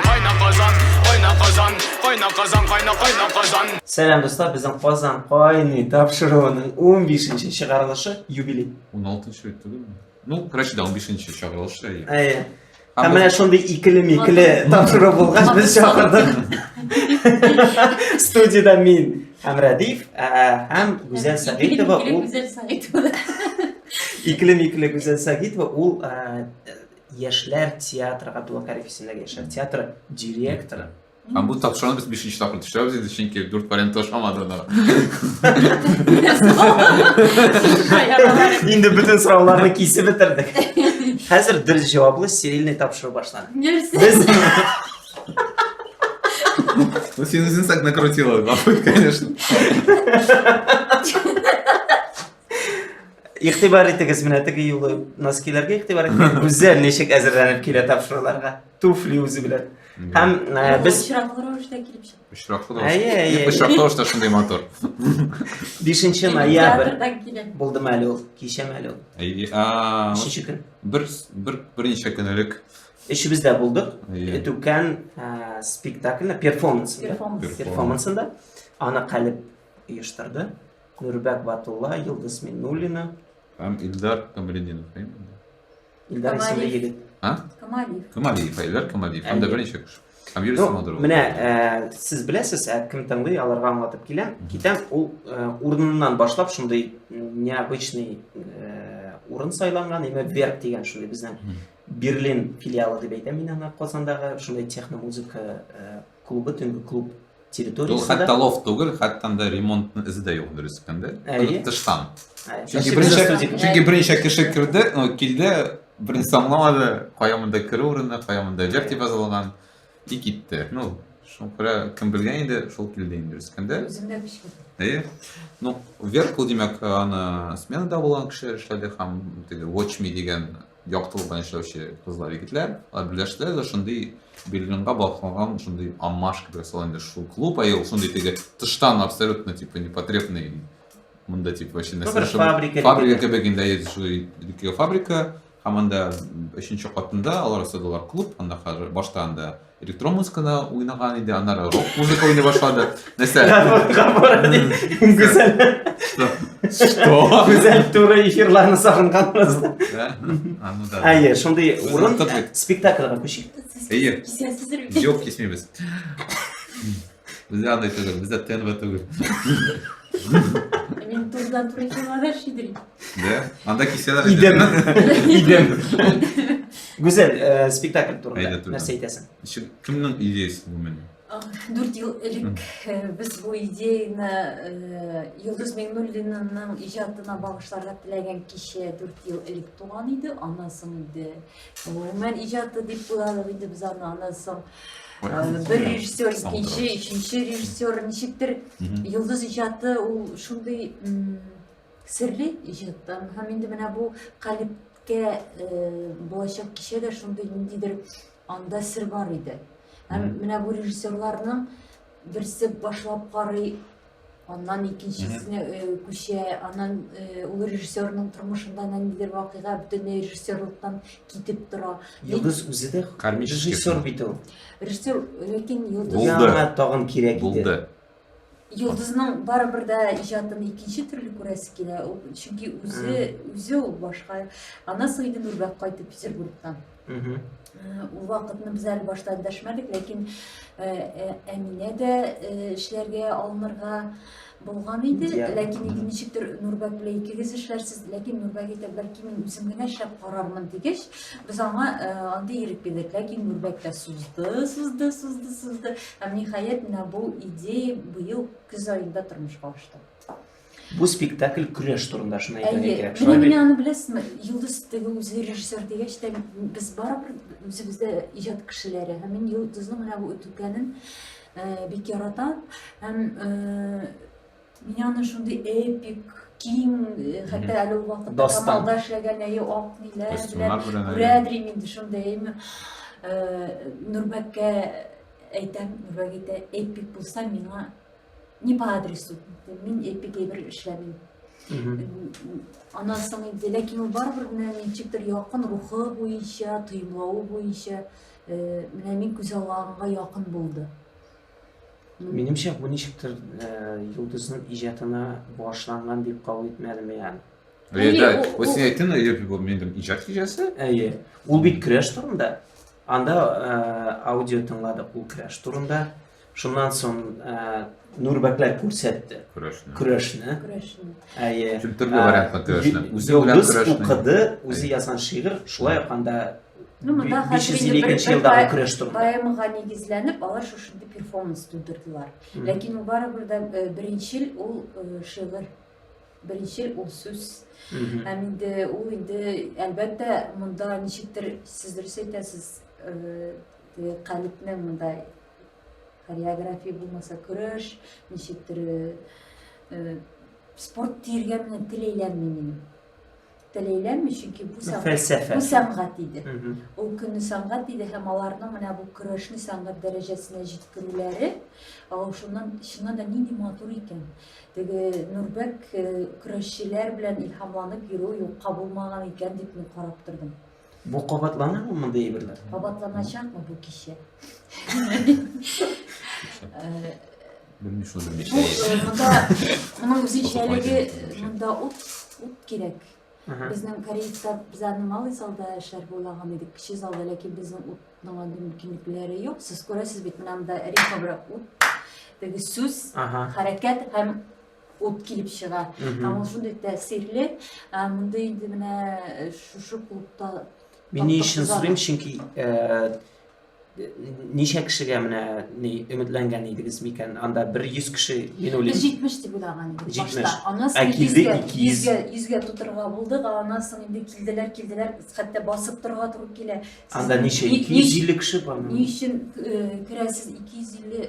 Кайна казан, кайна казан, кайна казан, кайна кайна казан. Сәлам дуслар, безнең Казан кайный тапшыруының 15-нче чыгарылышы юбилей. 16-нчы бит түгелме? Ну, короче, да 15-нче чыгарылышы. Әйе. Һәм менә шундый икеле-микеле тапшыру булгач, без чакырдык. Студияда мин һәм Радиф, һәм Гүзәл Сәгитова ул Икеле-микеле Гүзәл Сәгитова ул Яшьләр театры Габдулла Кариев исемендәге яшьләр театры директоры. Һәм бу тапшыруны без бишенче тапкыр төшерәбез инде, чөнки дүрт вариант ошамады анда. Инде бөтен сорауларны кисеп бетердек. Хәзер дөрес җаваплы стерильный тапшыру башланды. Нәрсә? Без Ну, син үзең так накрутила, конечно. Игътибар итегез, менә теге юлы носкиләргә игътибар итегез. Гүзәл ничек әзерләнеп килә тапшыруларга. Туфли үзе белән. Һәм э, без очраклы рәвештә килеп чык. Очраклы да. Әйе, әйе. Ник очраклы рәвештә шундый мотор? 5 ноябрь Театрдан килә. булдым әле ул, кичәм әле ул. Әйе. А, Өченче көн. бер бер берничә көн элек. Өчебез дә булдык. Әйе. Түкән э, спектакльне, перформансында. Перформанс. Перформанс. Перформансында аны Калиб оештырды. Нурбәк Батулла, Йолдыз Миннуллина. Һәм Илдар Камалетдинов, әйеме? Илдар исемле Камалиев. егет. А? Камалиев. Камалиев, Илдар Камалиев. Һәм дә Әле. берничә кеше. Һәм Юрий Ну, Самодуров. менә ә, сез беләсез, ә кем тыңлый, аларга аңлатып киләм. Китәм, ул ә, урыныннан башлап шундый м, необычный ә, урын сайланган, имя вверх дигән шундый безнең Мгм. Берлин филиалы дип әйтәм мин аны Казандагы шундый техномузыка ә, клубы төнге клуб территориясендә. Ул хәтта лофт түгел, хәтта анда ремонтның изе дә юк дөрес әйткәндә. Әйе. Тыштан. Чөнки беренчә чөнки беренчә кеше керде, ну килде, беренче аңламады, кая монда керү урыны, кая монда җыр дип язылган и китте. Ну, шуңа күрә кем белгән инде, шул килде инде дөрес әйткәндә. Үземдә бишкә. Әйе. Ну, вверх ул димәк, аны сменада булган кеше эшләде һәм теге Watch Me дигән яктылыкта яшәүче кызлар егетләр алар берләштеләр дә шундый берлинга багышланган шундый амаш кебек ясала инде шул клуб ә ул шундый теге тыштан абсолютно типа непотребный мында типа вообще фабрика фабрика кебек инде фабрика һәм анда өченче катында алар ясадылар клуб анда хәзер башта анда Электрон музыканы уйнаган иде, аннары рок музыка уйный башлады. Нәрсә? Гүзәл. Что? Гүзәл туры эфирларны сагынган раз. Әйе, шундый урын спектакльга күчик. Әйе. Юк, кисмибез. Бездә андай түгел, бездә ТНВ түгел. Мин туздан туры килмәдә шидри. Дә? Анда кисәләр. Идем. Идем. Гүзәл, э, спектакль Әйдә, турында турында. нәрсә әйтәсең? Ишек кемнең идеясы бу менә? Дүрт ел элек э, без бу идеяны э, Йолдыз Миңнуллинаның иҗатына багышларга теләгән кичә дүрт ел элек туган иде. Аннан соң инде гомумән иҗаты дип уйладык инде без аны. Аннан соң бер режиссер икенче өченче режиссер ничектер йолдыз иҗаты ул шундый серле иҗаттан һәм инде менә бу калибкә булачак кичә дә шундый ниндидер анда сер бар иде һәм менә бу режиссерларның Берсе башлап карый, аннан икенчесенә э, күчә, аннан э, ул режиссерның тормышында ниндидер вакыйга бөтенләй режиссерлыктан китеп тора. Йолдыз үзе дә Кармический режиссер бит ул. Режиссер, ләкин йолдыз Булды. Яңа тагын кирәк иде. Булды. Йолдызның барыбер дә иҗатын икенче төрле күрәсе килә, ул- чөнки үзе үзе ул башка. Аннан соң инде Нурбәк кайтып Петербургтан. Ул вакытны без әле башта дәшмәдек, ләкин Әминә дә эшләргә алынырга булган иде, ләкин инде ничектер Нурбәк белән икегез эшләрсез, ләкин Нурбәк әйтә, бәлки мин үзем генә эшләп карармын дигәч, без аңа андый ирек бирдек, ләкин Нурбәк тә сузды, сузды, сузды, сузды. Һәм ниһаять менә бу идея быел көз аенда тормышка ашты. Бу спектакль көрәш турында шуны әйтергә кирәк. Менә менә аны беләсезме? Йолдыз теге үзе режиссер дигәч тә без барыбер үзебез дә иҗат кешеләре. Һәм мин Йолдызның менә бу үтүкәнен э, бик яратам. Һәм э, мин аны шундый эпик киң, э, хәтта әле ул вакытта Камалда эшләгән әйе ак ниләр белән күрәдер инде шундый. Нурбәккә әйтәм, Нурбәк әйтә, эпик булса миңа не по адресу мин эпигей бер эшләмим аннан соң инде ләкин ул барыбер менә ничектер якын рухы буенча тоемлавы буенча э, менә мин күз алганга якын булды минемчә бу ничектер э, йолдызның иҗатына багышланган дип кабул итмәдем яны Әйе, ул син әйттең, әйе, бу минем иҗат кичәсе. Әйе. Ул бит креш турында. Анда э, аудио тыңладык, ул креш турында. Шуннан соң Нурбәкләр күрсәтте. Көрәшне. Көрәшне. Көрәшне. Әйе. Чүп төрле вариантта көрәшне. Үзе белән көрәшне. Укыды, үзе язган шигырь, шулай ук анда Ну, монда хәзер инде бер елдагы көрәш турында. Поэмага нигезләнеп, алар шушында перформанс тудырдылар. Ләкин ул барыбер дә беренчел ул шигырь беренче ул сүз һәм инде ул инде әлбәттә монда ничектер сез дөрес әйтәсез калипнең монда хореография булмаса көрәш ничектер э, спорт диергә менә теләйләнми минем теләйләнми чөнки бу фәлсәфә бу сәнгать иде ул көнне сәнгать иде һәм аларның менә бу көрәшне сәнгать дәрәҗәсенә җиткерүләре шуннан чыннан да нинди матур икән теге нурбәк э, көрәшчеләр белән илһамланып йөрү юкка булмаган икән дип мин карап тордым Бу кабатланырмы мондый әйберләр? Кабатланачакмы бу кичә? Белмим шуны Бу э, монда моның үзенчәлеге монда ут ут кирәк. Безнең Кореецта без аны малый залда эшләр булаган идек, кече залда, ләкин безнең утның андый мөмкинлекләре юк. Сез күрәсез бит, монда рифмабрак ут, теге сүз, хәрәкәт һәм ут килеп чыга. Һәм ул шундый тәэсирле, мондый инде менә э, шушы клубта Мин ни өчен сорыйм, чөнки э, ничә кешегә менә ни өметләнгән идегез микән? Анда 100 кеше, мин уйлыйм. 70 дип уйлаган идек башта. Аннан соң 100-гә, 100-гә тутырырга булдык, аннан соң инде килделәр, килделәр, хәтта басып торырга туры килә. Анда ничә 250 кеше бармы? Ни өчен э, керәсез 250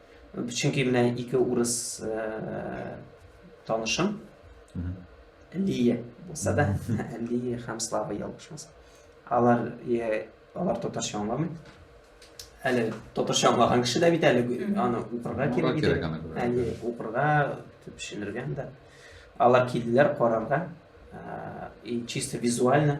Чөнки менә ике урыс танышым, Лия булса да, Лия һәм Слава ялгышмаса. Алар алар татарча аңламый. Әле татарча аңлаган кеше дә бит әле аны укырга кирәк иде. Әле укырга төшенергән дә. Алар килделәр карарга. И чисто визуально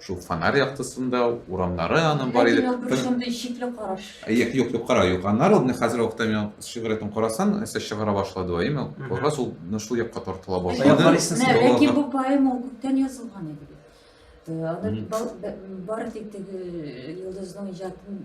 Шул фонарь яктысында урамнары аның бар иде. Бер шундый шикле караш. Юк, юк, юк, кара, юк. Аннары ул хәзер вакытта мин шигъриятен карасаң, нәрсә чыгара башлады ва имя. Кара сул шул якка тартыла башлады. Ләкин бу поэма ул күптән язылган иде. Аны бар тик теге йолдызның иҗатын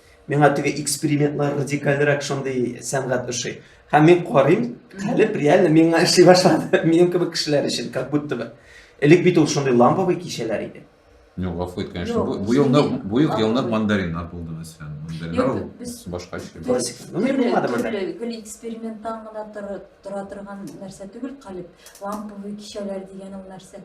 Миңа теге экспериментлар радикальрак шундый сәнгать ошый. Һәм мин карыйм, калып реально миңа эшли башлады. Минем кебек кешеләр өчен, как будто бы. Элек бит ул шундый ламповый кичәләр иде. Ну, гафу ит, конечно. Бу, бу елны, бу ел елны мандариннар булды мәсәлән. Мандариннар башка эшли. Классик. Ну, не булмады монда. Гел эксперименттан гына тора торган нәрсә түгел, калып ламповый кичәләр дигән ул нәрсә.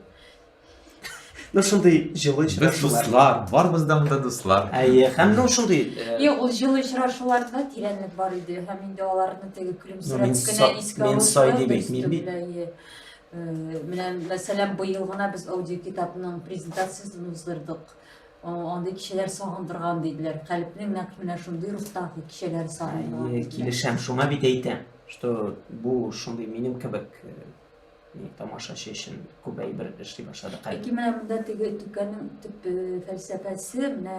Ну шундый җылы Без очрашулар. дуслар, барыбыздан да дуслар. Әйе, һәм ну шундый э, Юк, ул җылы очрашуларда тирәнлек бар иде һәм инде аларны теге Ну, көлемсерәп мин кенә са- искә мин алучылар сай дип да әйтмим өстәп бит. белә, ие. Э, Менә мәсәлән, быел гына без аудиокитапның презентациясен уздырдык. О, Андый кичәләр сагындырган диделәр. Калебнең нәкъ менә шундый рухтагы кичәләр сагындырган. Әйе, диделәр. килешәм, шуңа бит әйтәм, что бу шундый минем кебек э, тамашачы өчен күп әйбер эшли башладык әле. Ләкин менә монда теге түкәнең төп э, фәлсәфәсе менә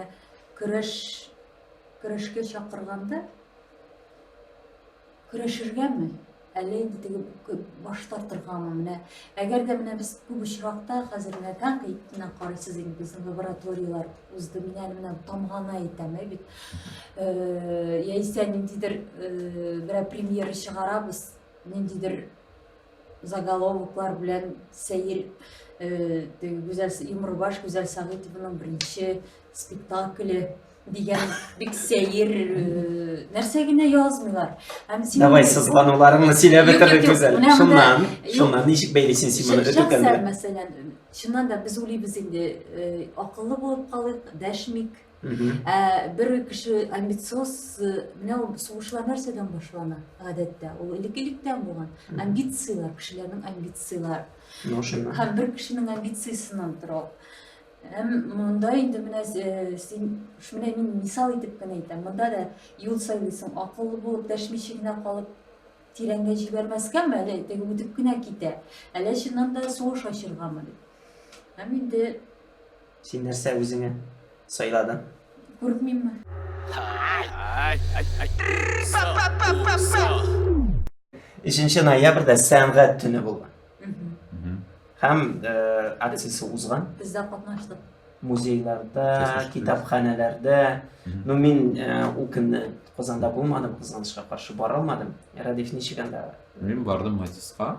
көрәш көрәшкә чакырганда көрәшергәме? Әле инде теге баш тартыргамы менә? Әгәр дә менә без күп очракта хәзер менә тәнкыйтьне карыйсыз инде безнең лабораторияләр узды. Мин әле менә тамганы әйтәм, ә бит. Э, яисә ниндидер э, берәр премьера чыгарабыз, ниндидер заголовоклар белән сәер гүзәл юмрбаш гүзәл сәгыйтованың беренче спектакле дигән бик сәер нәрсә генә язмыйлар һәм син давай сызлануларыңны сөйләп бетердек гүзәл шуннан шуннан ничек бәйлисең син моны өтүкәндә мәсәлән чыннан да без уйлыйбыз инде акыллы булып калыйк дәшмик Ә бер кеше амбициоз, э, менә ул сугышлар нәрсәдән башлана, гадәттә, ул элек-электән булган. Амбицияләр, кешеләрнең амбицияләр. Ну, шуңа. Һәм бер кешенең амбициясеннән тора ул. Һәм монда инде менә э, син, менә мин мисал итеп кенә әйтәм, монда да юл сайлыйсың, акыллы булып, дәшмичә генә калып, тирәнгә җибәрмәскәме, әле теге үтеп кенә китә, әле чыннан да сугыш ачыргамы дип. Һәм инде Син нәрсә үзеңә сайладың? Куркмыйммы? Өченче ноябрьдә сәнгать төне булган. Һәм акциясе узган. Без дә катнаштык. Музейларда, китапханәләрдә. Ну мин ул көнне Казанда булмадым, кызганычка каршы бара алмадым. Радиф ничек анда? Мин бардым Матиска.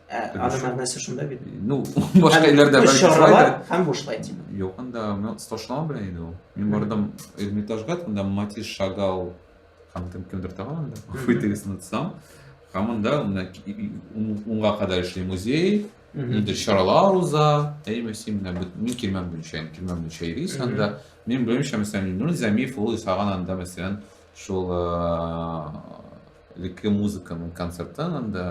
Ә аны мәгънәсе шунда бит. Ну, башка илләрдә бәлки шулай да. Һәм бушлай дип. Юк, анда мин сташлама белән иде ул. Мин бардым Эрмитажга, анда Матис Шагал һәм кем кемдер тагын анда. Фитилис нутсам. Һәм анда унга кадәр эшли музей. Нидер чаралар уза, әйме син менә мин килмәм буенча, килмәм буенча йөрис анда. Мин белмичә, мәсәлән, Нур Замиев ул исаган анда, мәсәлән, шул э, леке музыканың концертын анда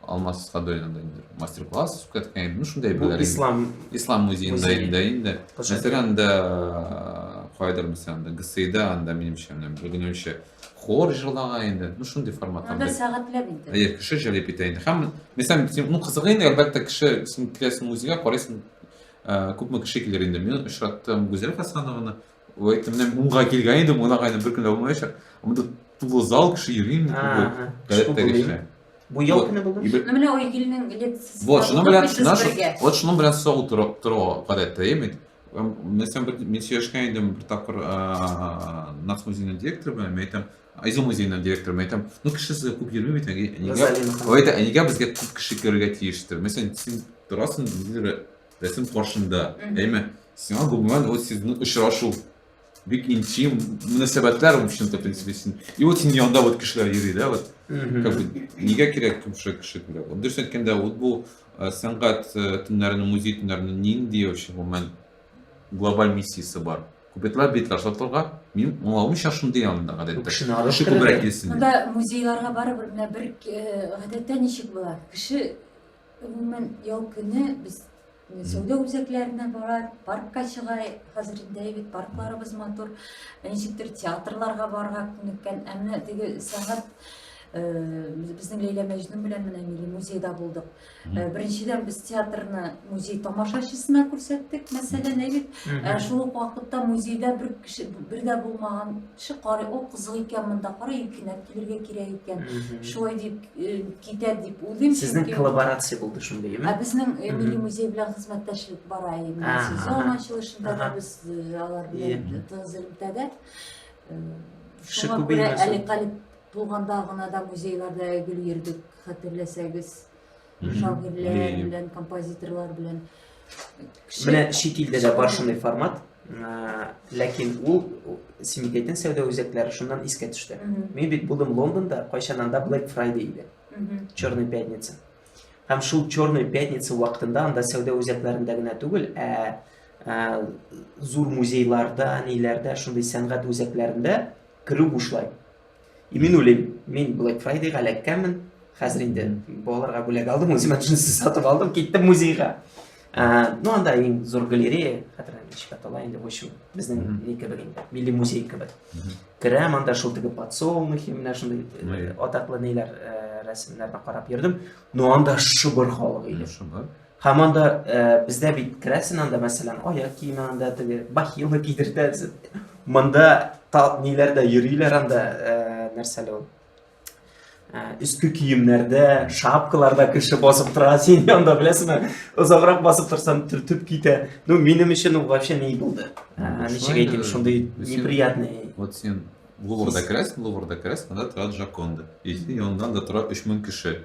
алмас садоинда инде мастер класс үткәрткән идем шундай бер ислам ислам музеенда инде инде мәсәлән анда кайдыр мәсәлән анда гсида анда минемчә бүгенемчә хор җырлаган инде ну шундый формат анда сәгатьләп инде әйе кеше җәлеп итә инде һәм мәсәлән син ну кызыгы инде әлбәттә кеше син киләсең музейга карыйсың күпме кеше килер инде мин очраттым гүзәл хасанованы ой әйттем менә мунга килгән идем мунагаем бер көн дә булмаячак монда тулы зал кеше йөри инде күбе гадәттәгечә Бу ел көне бүген. Ну менә ой илнең лекциясе. Вот шуның белән наша вот шуның белән сау тору тору гадәттә, яме. Мен сен бер мен сөйләшкән идем бер тапкыр Нац музейның директоры белән, мен әйтәм, Айзу музейның директоры, мен әйтәм, ну кеше сезгә күп йөрми бит, нигә? Ой әйтә, нигә безгә күп кеше керергә тиештер? Мен сен син торасың, рәсем каршында, яме. Сиңа гомумән вот сезнең очрашу бик интим мөнәсәбәтләр в общем-то принципе и вот синең янда вот кешеләр йөри да вот как бы нигә кирәк шушы кеше кирәк вот дөрес әйткәндә вот бу э, сәнгать э, төннәренең музей төннәренең нинди вообще гомумән глобаль миссиясе бар күпетләр битләр сатылырга мин аңламыйча шундый янында гадәттә кешене алып кеше күбрәк килсен монда музейларга барыбер менә бер э, гадәттә ничек була кеше Гомумән, ял көне без сәүдә үзәкләренә барар, паркка чыга, хәзер инде әйбәт паркларыбыз матур, ничектер театрларга барырга күнеккән, әмма теге сәгать безнең Ләйлә Мәҗнүн белән менә милли музейда булдык. Беренчедән без театрны музей тамашачысына күрсәттек, мәсәлән, әйбәт. Шул ук вакытта музейда бер кеше бер дә булмаган Кеше карый, ул кызык икән монда, кара юкинәп килергә кирәк икән. Шулай дип э, китә дип уйлыйм. Сезнең чөнки- коллаборация булды шундый, Ә безнең э, милли музей белән хезмәттәшлек бара инде. Ага, Сезон ага. ачылышында да Ага. без э, алар белән Ие. тыгыз элемтәдә. Э, Кеше Шуңа күбәймәсен. күрә әле калип булганда гына да музейларда гел йөрдек, хәтерләсәгез. шагыйрьләр белән, композиторлар белән. Менә чит илдә дә бар шундый формат, ләкин ул Симикәйтен сәүдә үзәкләре шуннан искә төште. Мин бит булдым Лондонда, кайчан анда Black Friday иде. Черная пятница. Һәм шул Черная пятница вакытында анда сәүдә үзәкләрендә генә түгел, ә зур музейларда, ниләрдә, шундый сәнгать үзәкләрендә керү бушлай. И мин уйлыйм, мин Black Friday-га эләккәнмен, хәзер инде балаларга бүләк алдым, үземә джинсы сатып алдым, киттем музейга. Ә, ну анда иң зур галерея, хәтер ничек атала инде, в общем, безнең ни кебек инде, милли музей кебек. Керәм анда шул теге подсолнухи, менә шундый э, атаклы ниләр э, рәсемнәрне карап йөрдем. Ну анда шыбыр халык иде. Шыбыр. Һәм анда бездә бит керәсен анда, мәсәлән, аяк киеме анда теге бахилы кидертәсен. Монда тал ниләрдә йөриләр анда, нәрсәле ул? Өске киемнәрдә, шапкаларда кеше басып тора, син анда беләсеңме? Озаграк басып торсаң, төртеп китә. Ну, минем өчен ул вообще не булды. Ничек әйтим, шундый неприятный. Вот син Луврда керәсен, Луврда керәсен, анда тора Джаконда. И син яндан да тора 3000 кеше.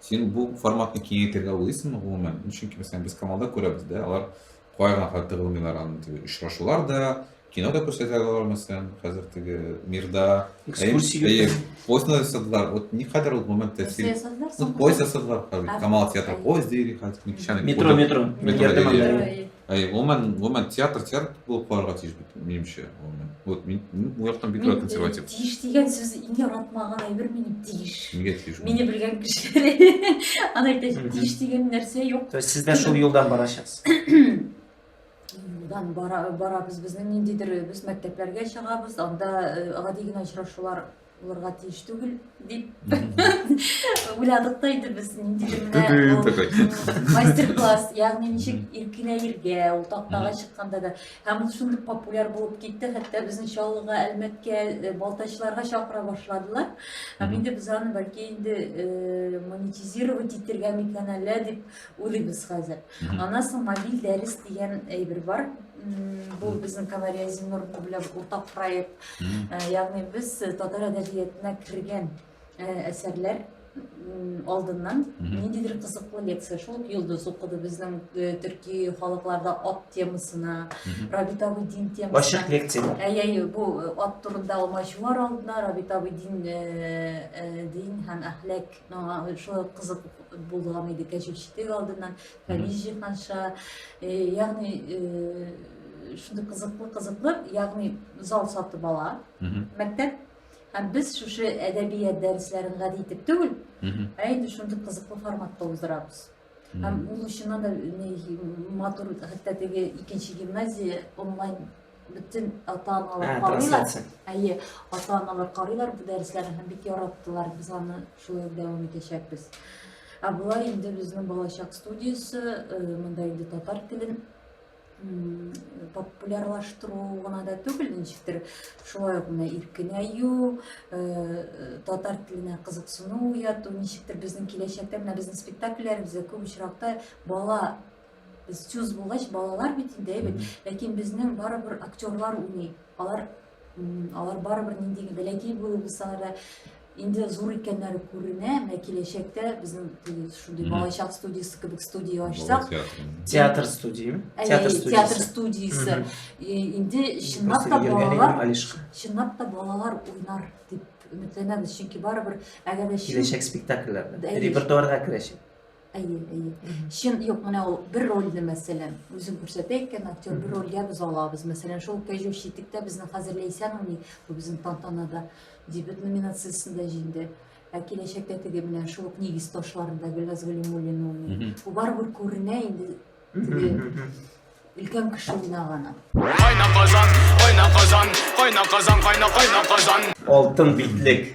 Син бу форматны киңәйтергә уйлыйсыңмы гомумән? Чөнки мәсәлән без Камалда күрәбез дә, алар кая гына хәтта тыгылмыйлар аны теге очрашулар да, кино да күрсәтә алар мәсәлән, хәзер теге мирда экскурсия поезд ясадылар. Вот никадәр ул гомумән тәэсир. Ну поезд ясадылар хәзер Камал театры поезд дири хәзер. Метро метро. Метро. Әй, гомумән, гомумән театр театр булып калырга тиеш бит, минемчә, гомумән. Вот мин бу яктан бик рәхәт консерватив. Тиеш дигән сүз иң яратмаган әйбер мине тиеш. Нигә тиеш? Мине белгән кешеләр аны әйтәчәк, тиеш дигән нәрсә юк. То есть сездә шул юлдан барачаксыз. Юлдан бара барабыз, безнең ниндидер без мәктәпләргә чыгабыз, анда гади генә очрашулар булырга тиеш түгел дип уйладык та инде без ниндидер менә мастер класс ягъни ничек иркенәергә ул тактага чыкканда да һәм ул шундый популяр булып китте хәтта безне чаллыга әлмәткә э, балтачларга чакыра башладылар һәм инде без аны бәлки инде э, монетизировать итергә микән әллә дип уйлыйбыз хәзер Мгм. Аннан соң мобиль дәрес дигән әйбер бар. М, Бу безнең Камария Зиннур белән уртак проект. Мгм. Э, Ягъни без э, татар әдәбиятына кергән э, әсәрләр м, алдыннан Мгм. ниндидер кызыклы лекция. Шул ук Йолдыз укыды безнең э, төрки халыкларда ат темасына, Мгм. Рабит абый дин темасына. Ачык лекция. Әй, әй, бу э, ат турында алмачуар алдына Рабит абый дин, э, э, дин һәм әхләк Аңа шулай кызык булган иде кәҗүл читек алдыннан, фәлис җыйганча. Ягъни шундый кызыклы кызыклы, ягъни зал сатып ала мәктәп. Һәм без шушы әдәбият дәресләрен гади итеп түгел, ә инде шундый кызыклы форматта уздырабыз. Һәм ул чыннан да матур, хәтта теге икенче гимназия онлайн бөтен ата-аналар карыйлар. Әйе, ата-аналар карыйлар бу дәресләрне һәм бик яраттылар. Без аны шулай дәвам итәчәкбез. Ә болай инде безнең балачак студиясе, монда инде татар телен популярлаштыру гына да түгел ничектер шулай ук менә иркенәю татар теленә кызыксыну уяту ничектер безнең киләчәктә менә безнең спектакльләребездә күп очракта бала сүз булгач балалар бит инде әйбәт ләкин безнең барыбер актерлар уйный алар Алар барыбер ниндиге бәләкәй булып булсалар да инде зур икәннәре күренә, менә киләчәктә безнең шундый балачак студиясе кебек студия ачсак, театр студия, театр студиясе, театр студиясе. Инде чынлап та балалар, чынлап та балалар уйнар дип өметләнәбез, чөнки барыбер әгәр дә киләчәк спектакльләрдә репертуарга керәчәк. Әйе, әйе. Чын, юк, менә ул бер рольне, мәсәлән, үзем күрсәтә икән, актер бер рольгә без алабыз. Мәсәлән, шул кәҗү читектә безнең хәзер Ләйсән уйный, бу безнең тантанада дебют номинациясендә җиңде. Ә киләчәктә теге менә шул ук нигез ташларында Гөлназ Галимуллина уйный. Бу барыбер күренә инде теге өлкән кеше уйнаганы. Кайна казан, кайна казан, кайна казан, кайна кайна казан. Алтын битлек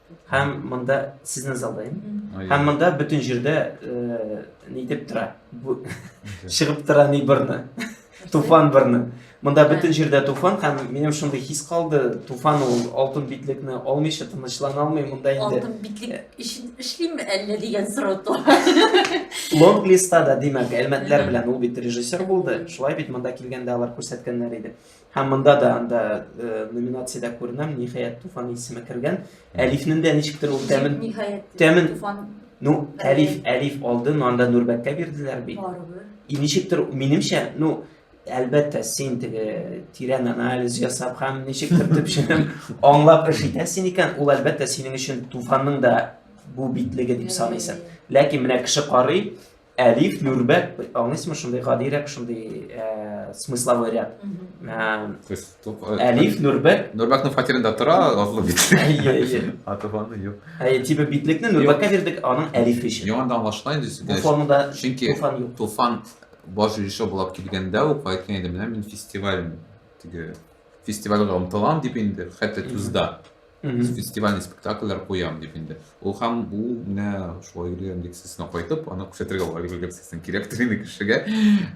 Һәм монда сезне залдайм. Һәм монда бөтен җирдә э, ни дип тора? Бу чыгып тора ни берне. Туфан берне. Монда бөтен җирдә туфан һәм минем шундый хис калды, туфан ул алтын битлекне алмыйча тынычлана алмый, монда инде Алтын битлек өчен эшлиме әллә дигән сорау туа. Лонг листа да, димәк, әлмәтләр белән ул бит режиссер булды. Шулай бит монда килгәндә алар күрсәткәннәр иде. Һәм монда да анда э, номинациядә күренәм, ниһаять Туфан исеме кергән. Әлифнең дә ничектер ул тәмен ниһаять тәмен Туфан Ну, әлиф, әлиф алды, но анда Нурбәккә бирделәр бит. Барыбер. И ничектер, минемчә, ну, әлбәттә, син теге тирән анализ ясап һәм ничектер төпченем аңлап эш итәсең икән, ул әлбәттә синең өчен Туфанның да бу битлеге дип саныйсың. Ләкин менә кеше карый, Әлиф, Нурбәк, аңлыйсыңмы шундый гадирәк, шундый э, смысловой ряд. Э, То есть, топ- э, Әлиф, Нурбәк, Нурбәкнең фатирында тора Азлы бит. әйе, әйе. А туганы юк. Әйе, типа битлекне Нурбәккә бирдек, аның Әлиф өчен. Яңа да аңлашыла инде. Бу формада Чөнки туфан юк. Туфан баш режиссер булып килгәндә үк әйткән иде, менә мин фестиваль теге фестивальгә омтылам дип инде, хәтта Тузда. Мгм. фестивальный спектакльләр куям дип инде. Ул һәм бу менә шулай йөргән лекциясенә кайтып, аны күрсәтергә була йөргән лекциясен кирәктер инде кешегә.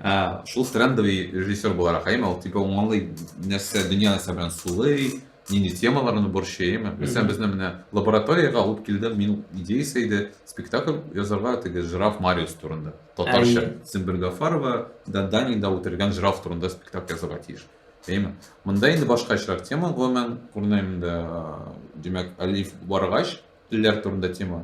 Ә, Шул трендовый режиссер буларак, әйме, ул типа ул аңлый нәрсә, дөнья нәрсә белән сулый, нинди темаларны борчый, әйме. Мәсәлән, Мгм. безне менә лабораториягә алып килде, мин идеясе иде спектакль язарга теге жираф Мариус турында. Татарча Әйе. Сембер Гафарова, да Данида үтерелгән жираф турында спектакль язарга тиеш. Әйе. Монда инде башка очрак тема, гомумән, күренәм инде, димәк, алиф баргач, телләр турында тема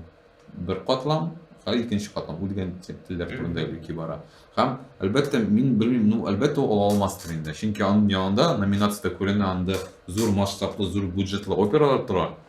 бер катлам, һәм икенче катлам үлгән телләр турында уйки бара. Һәм, әлбәттә, мин белмим, ну, әлбәттә, ул ала алмастыр инде. Чөнки аның янында номинацияда күренә анда зур масштаблы, зур бюджетлы опералар тора.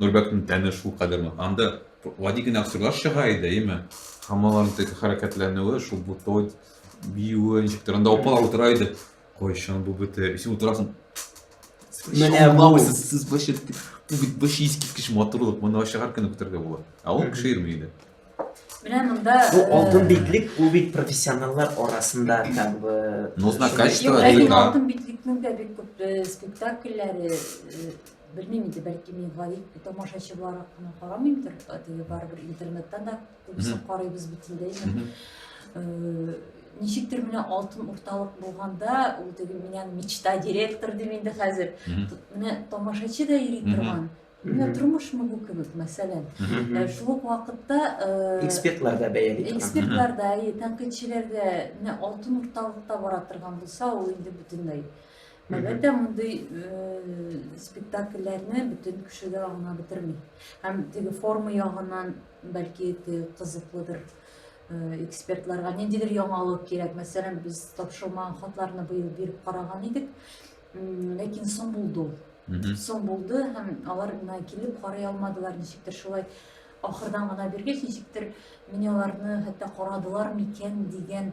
Нурбәктин тәне шул кадәр нык. Анда гади генә сырлар чыга иде, әйеме? Хамаларның теге хәрәкәтләнүе, шул бутылы биюе, ничектер. Анда апалар утыра иде. Кайчан бу бетә? Син утырасың. Менә бу. Сез башып бу бит бу шиз киткеч матурлык. Моны ашагар кенә күтәргә була. Ә ул кеше ирми иде. Менә монда Бу алтын битлек, бу бит профессионаллар арасында как бы. Ну, знакачество. Алтын битлек Кемдә бик күп э, спектакльләре э, Белмим инде, бәлки мин гаип тамашачы буларак кына карамыймдыр, теге барыбер интернеттан да күбесен карыйбыз бит инде инде. Э, ничектер менә алтын урталык булганда, ул теге меня мечта директор дим инде хәзер. Менә тамашачы да йөри торган. Менә тормышмы бу кебек, мәсәлән. Э, шул ук вакытта э, экспертлар да бәяли торган. Экспертлар да, тәнкыйтьчеләр дә менә алтын урталыкта бара торган булса, ул инде бөтенләй Әлбәттә, мондый э, спектакльләрне бөтен кеше дә аңлап бетерми. Һәм теге форма ягыннан бәлки кызыклыдыр э, экспертларга ниндидер яңалык кирәк. Мәсәлән, без тапшырылмаган хатларны быел биреп караган идек, ләкин соң булды ул. Соң булды һәм алар мына килеп карый алмадылар, ничектер шулай ахырдан гына биргәч, ничектер мин аларны хәтта карадылар микән дигән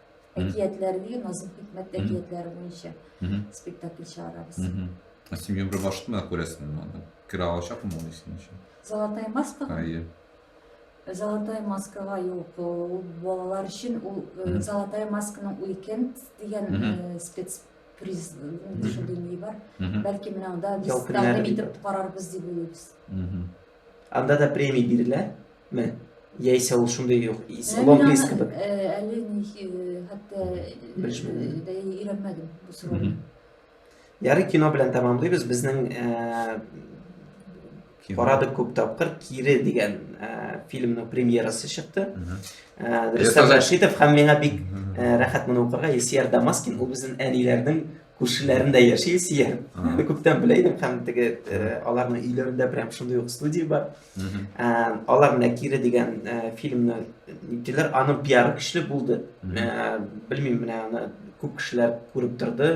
әкиятләр бирен азым хикмәт әкиятләре буенча спектакль чыгарабыз син гомер башында күрәсең аны керә алачакмы ул синең өчен золотая маска әйе золотая маскага юк ул балалар өчен ул золотая масканың уикенд дигән спец приз дүшенденли бар бәлки менә анда тәкъдим итеп карарбыз дип уйлыйбыз Анда да премия бирелә? Ме? Яисә ул шундый юк, лонг-лист кебек? Әле хәтта өйрәнмәдем бу сорауны. Ярый кино белән тәмамлыйбыз. Безнең Карадык күп тапкыр Кире дигән фильмның премьерасы чыкты. Рөстәм Рәшитов һәм миңа бик рәхәт моны укырга Исияр Дамаскин ул безнең әниләрнең Күршеләрендә яши Илсия. Әле күптән белә идем һәм теге аларның өйләрендә прям шундый ук студия бар. Алар Нәкире дигән фильмны иттеләр. Аның пиары көчле булды. Белмим, менә аны күп кешеләр күреп торды.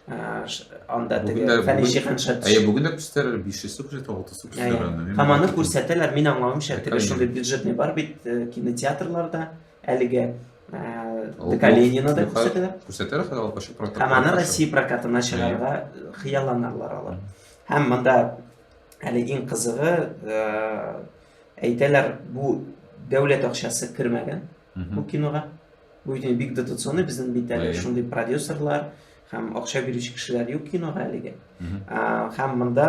Анда теге Фәни Шиханшат. Әйе, бүген дә күрсәтәләр 500 сум җитә, 600 сум җитә. Һәм аны күрсәтәләр, мин аңлавымча, теге шундый бюджетный бар бит кинотеатрларда. Әлегә Калинина да күрсәтәләр. Күрсәтәләр хәзер алып чыгып прокат. Һәм аны Россия прокатына чыгарга хыялланалар алар. Һәм монда әле иң кызыгы әйтәләр, бу дәүләт акчасы кермәгән бу кинога. Бу бит бик дотационный безнең бит әле шундый продюсерлар һәм акча бирүче кешеләр юк кинога әлегә. Һәм монда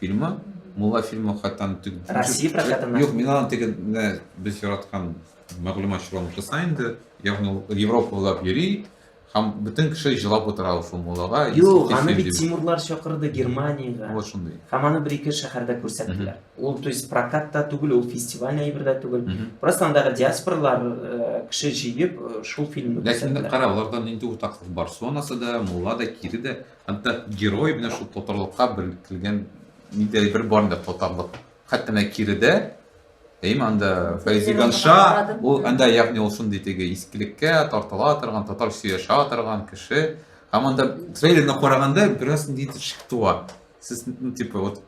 Фильмы, Мулла фильмы хатан тик Россия прокатына. Юк, мин аны тик без яраткан мәгълүматчылар утырса инде, ягъни ул Европа буйлап йөри, һәм бөтен кеше җылап утыра ул Муллага. Юк, аны бит Тимурлар чакырды Германиягә. Ул шундый. Һәм аны бер-ике шәһәрдә күрсәттеләр. Ул, то есть, прокатта түгел, ул фестиваль әйбердә түгел. Просто андагы диаспорлар э, кеше җыеп э, шул фильмны күрсәттеләр. Ләкин кара, аларда нинди уртаклык бар? Сонасы да, Мулла да, Кире дә Хәтта герой менә шул татарлыкка беркелгән ниндидер бер бар инде татарлык. Хәтта менә киредә Әйме анда Фәйзиганша, ул анда ягъни ул шундый теге искелеккә тартыла торган, татар сөяшә торган кеше. Һәм анда трейлерны караганда бераз ниндидер шик туа. Сез, ну, типа, вот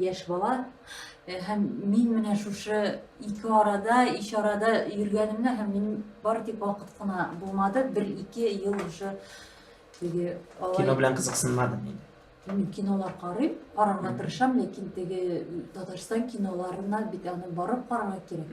яшь бала һәм мин менә шушы ике арада ич арада йөргәнемне һәм мин бары тик вакыт кына булмады бер ике ел уже теге кино белән кызыксынмадым инде мин кинолар карыйм карарга тырышам ләкин теге татарстан киноларына бит аны барып карарга кирәк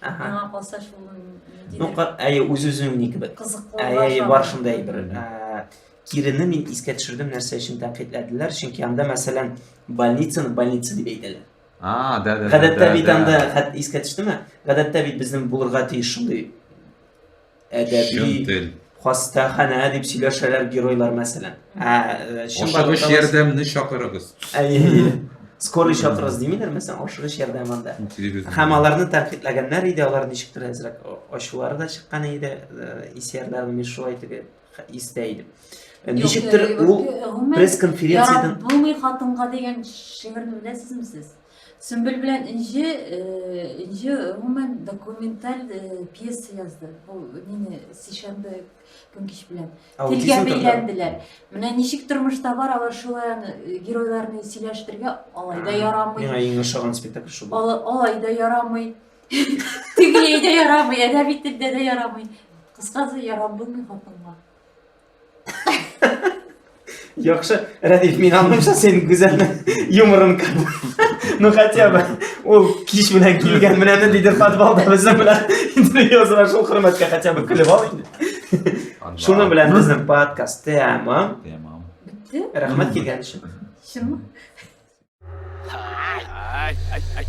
Аңа калса шул Ну, әйе, үз-үзең ни кебек. Кызыклы. Әйе, бар шундай бер. Кирене мин искә төшердем, нәрсә өчен тәнкыйтьләделәр, чөнки анда, мәсәлән, больницаны больница дип әйтәләр. А, да, да. Гадәттә бит анда искә төштеме? Гадәттә бит безнең булырга тиеш шундый әдәби хастаханә дип сөйләшәләр геройлар мәсәлән э, ашыгыч ярдәмне чакырыгыз скорый чакырыгыз димиләр мәсәлән ашыгыч ярдәм анда һәм аларны тәнкыйтьләгәннәр иде алар ничектер әзрәк ачулары да чыккан иде э, исәрләр мин шулай теге истә идем э, ничектер ул пресс конференциядән яратмый хатынга дигән шигырьне беләсезме сез Сөмбел белән Энҗе, Энҗе гомумән документаль пьеса язды. Бу мине сишәмбе көн кич белән телгә бәйләнделәр. Менә ничек тормышта бар, алар шулай аны геройларны сөйләштерергә алай да ярамый. Миңа иң ошаган спектакль шул. Алай да ярамый. Тегеләй дә ярамый, әдәби телдә дә ярамый. Кыскасы ярап булмый хатынга. Яхшы, Рәдиф, мин аңлыймча сен гүзәл юморын кабул. Ну хотя бы ул кич белән килгән менә ниндидер подвалда безнең белән интервью узган шул хөрмәткә хотя бы көлеп ал инде. Шуның белән безнең подкаст тәмам. Тәмам. Бетте? Рәхмәт килгән өчен. Чынмы? Ай, ай, ай, ай.